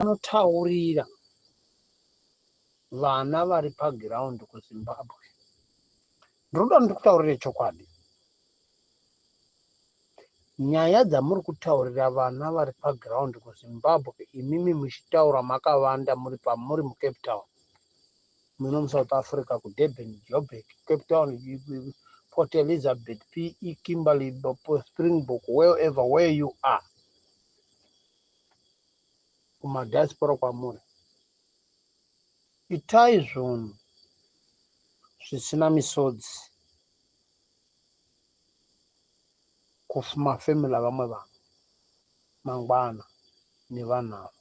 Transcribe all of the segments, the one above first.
Anotaurira vana vari paground kuzimbabwe ndinoda ndikutaurire chokwadi nyaya dzamuri kutaurira vana vari paground kuzimbabwe imimi muchitaura makavanda muri pamuri mucape town muno musouth africa kudurban jobek cape town port elizabeth pe kimberley springbok wherever where you are kumadiaspora kwamuri itai zvunhu zvisina misodzi kumafamily avamwe vanhu mangwana nevanhu ava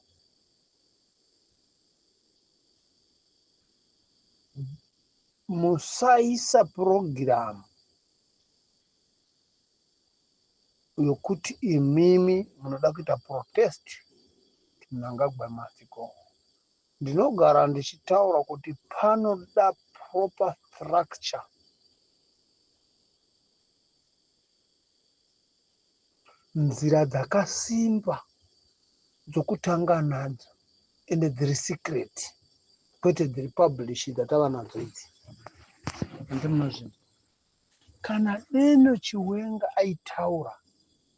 musaisa purogiramu yokuti imimi munoda kuita protest Mnangagwa must go. Ndinogara ndichitaura kuti panoda proper structure nzira dzakasimba dzokutanga nadzo ende dziri secret kwete dziri publish dzatava nadzo idzi. Hanzi munozvinzwa. Kana deno chiwenga aitaura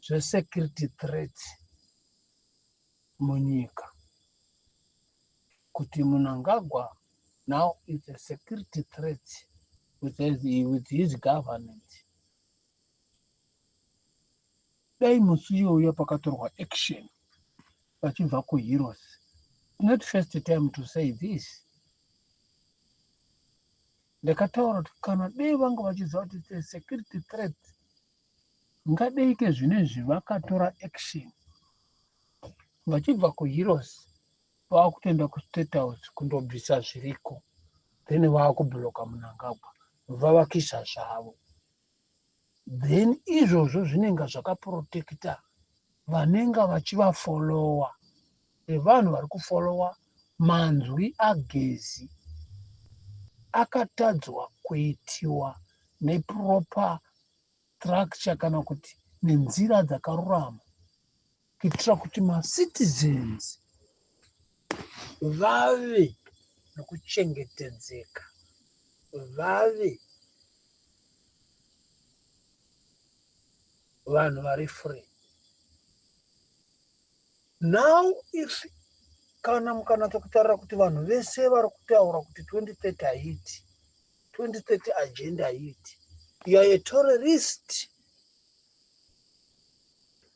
zve security threats munyika kuti munangagwa now is a security threats with his, with his government dai musi iyoyo pakatorwa action vachibva kuheroes not first time to say this Ndakataura kuti kana dei vanga vachiziva kuti it's a security threat ngadeike zvinezvi vakatora action vachibva kuheroes vakutoenda kustate house kundobvisa zviriko then vakubloka munangagwa vavakisa zvavo then izvozvo zvinenge zvakaprotecta vanenge vachivafollowa nevanhu vari kufollowa manzwi agezi akatadzwa kuitiwa neproper structure kana kuti nenzira dzakarurama. kuitira kuti macitizens vave nokuchengetedzeka, vave vanhu vari free. Now if kana mukanatsa kutarira kuti vanhu vese vari kutaura kuti 2030 haiti 2030 agenda haiti you are a terrorist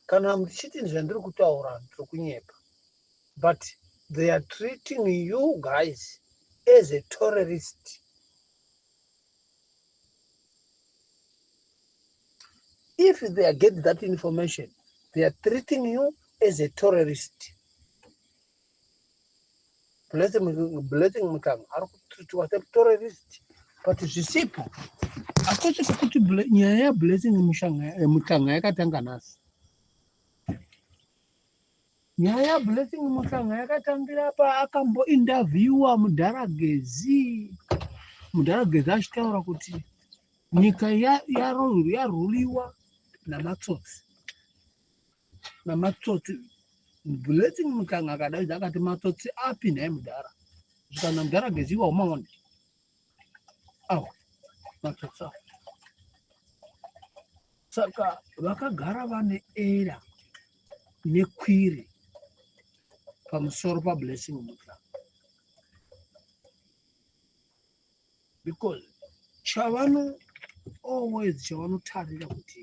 Kana muchiti zvandiri kutaura ndiri kunyepa but they are treating you guys as a terrorist. If they are get that information they are treating you as a terrorist. blessing mutanga ari kutreatiwa semutororist but zvisipo hakusi kuti nyaya yablessing mutanga yakatanga nhasi nyaya yablessing mutanga yakatangira paakambointerviewa mudhara gezi mudhara gezi achitaura kuti nyika yaruliwa namatsotsi namatsotsi blessing mutanga akadaidza akati matsotsi api nhai mudhara zvikana mudhara geziwa umaone awa matsotsi awa saka vakagara vane era nekwiri pamusoro pablessing mutanga because chavano always chavanotarira kuti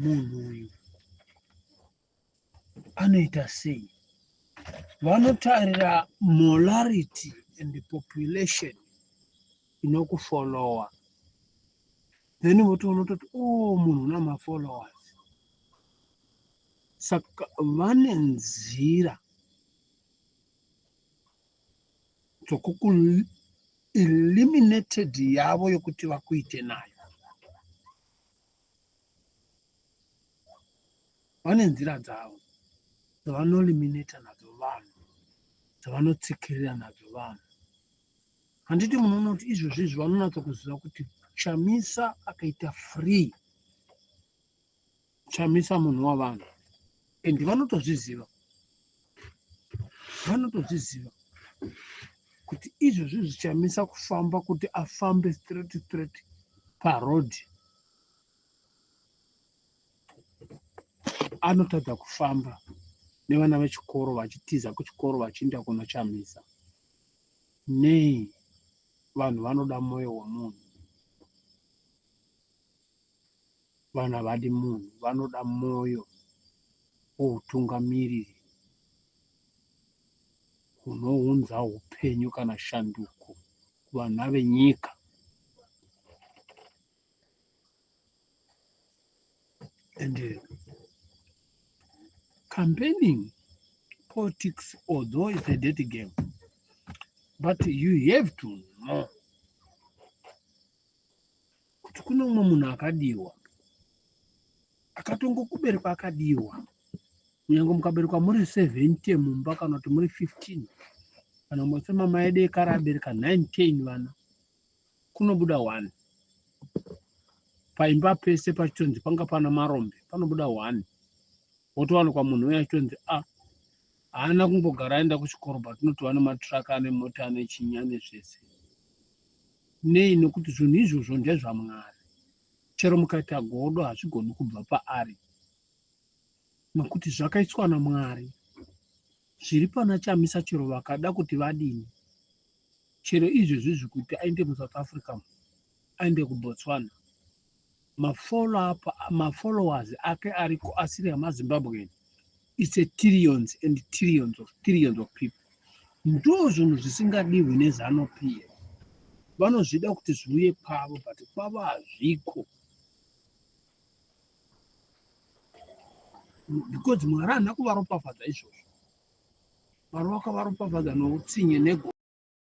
munhu uyu anoita sei vanotarira molarity and population inokufolowa then votoona toti o oh, munhu una mafollowers saka vane nzira tokuku eliminated yavo yokuti vakuite nayo vane nzira dzavo dzavanoliminata nadzo vanhu dzavanotsikirira nadzo vanhu handiti munoona kuti izvozvi izvi vanonatsa kuziva kuti chamisa akaita free chamisa munhu wavanhu and vanotozviziva vanotozviziva kuti izvozvi zvichamisa kufamba kuti afambe straight straight paroad anotadza kufamba nevana vechikoro vachitiza kuchikoro vachiinda kunochamisa nei vanhu vanoda mwoyo wemunhu Vanhu havadi munhu, vanoda mwoyo woutungamiriri hunounza upenyu kana shanduko kuvana venyika. And uh, campaigning politics, although it's a dirty game, but you have to know kuti kune umwe munhu akadiwa akatongokuberekwa akadiwa kunyange mukaberekwa muri 70 mumba kana kuti muri 15 kana mose mama edu ekare abereka 19 vana kunobuda one paimba pese pachitonzi panga pana marombe panobuda one wotowanikwa munhu uye achitonzi a ah, haana kungogara aenda kuchikoro but unotowa nematraka ane mota ane chinya nezvese Nei? Nokuti zvinhu izvozvo ndezvaMwari. Chero mukaita godo, hazvigoni kubva paari, nokuti zvakaiswa naMwari. Zviri pana Chamisa chero vakada kuti vadini. Chero izvezvizvi kuti aende muSouth Africa, aende kuBotswana, mafollow-up mafollowers ake ariko asiri amazimbabwean its a trillions and trillions of trillions of people ndo zvinhu zvisingadihwi nezano piya vanozvida kuti zviuye kwavo but kwavo hazviko because mwari haana kuvaropafadza izvozvo mwari wakavaropafadza noutsinye nego